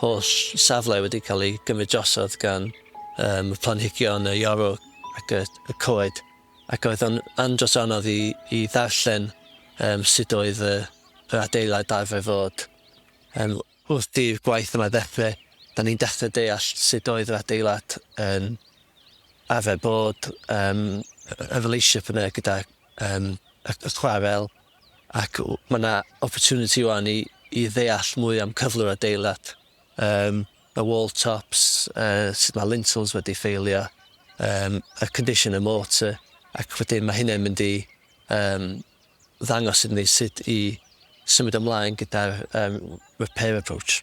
Holl safle wedi cael ei gymryd drosodd gan yym y planhigion, y iorw ac y y coed ac oedd o'n andros o anodd i i ddarllen yym sut oedd y yr adeilad arfer fod. Yym wrth i'r gwaith yma ddeffre, 'da ni'n dechre deall sut oedd yr adeilad yn arfer bod, yym y y relationship yna gyda yym y y chwarel, ac mae yna opportunity ŵan i i ddeall mwy am cyflwr adeilad, yym y wall tops, yy sut mae lintels wedi ffeilio, yym y condition y mortar, ac wedyn mae hynna'n mynd i yym ddangos iddyn ni sut i symud ymlaen gyda'r yym repair approach.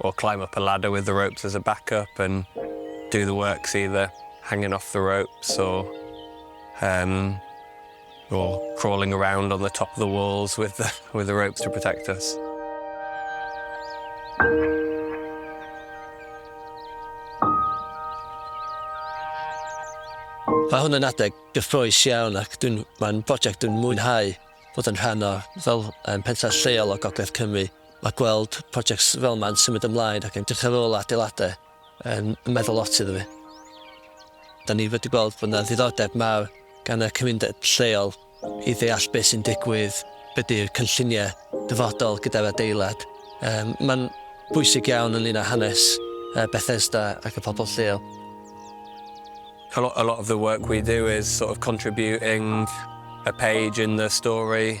Or climb up a ladder with the ropes as a back up and do the works either hanging off the ropes or um, or crawling around on the top of the walls with the, with the ropes to protect us. Mae hwn yn adeg gyffroes iawn ac mae'n prosiect dwi'n mwynhau bod yn rhan o fel um, pentref lleol o Gogledd Cymru. Mae gweld projects fel yma yn symud ymlaen ac yn edrych ar ôl adeiladau yn meddwl lot iddo fi. Da ni wedi gweld bod yna ddiddordeb mawr gan y cymuned lleol i ddeall beth sy'n digwydd, be di'r cynlluniau dyfodol gyda'r adeilad. Mae'n bwysig iawn ynglyn â hanes Bethesda ac y pobl lleol. A lot of the work we do is sort of contributing a page in the story.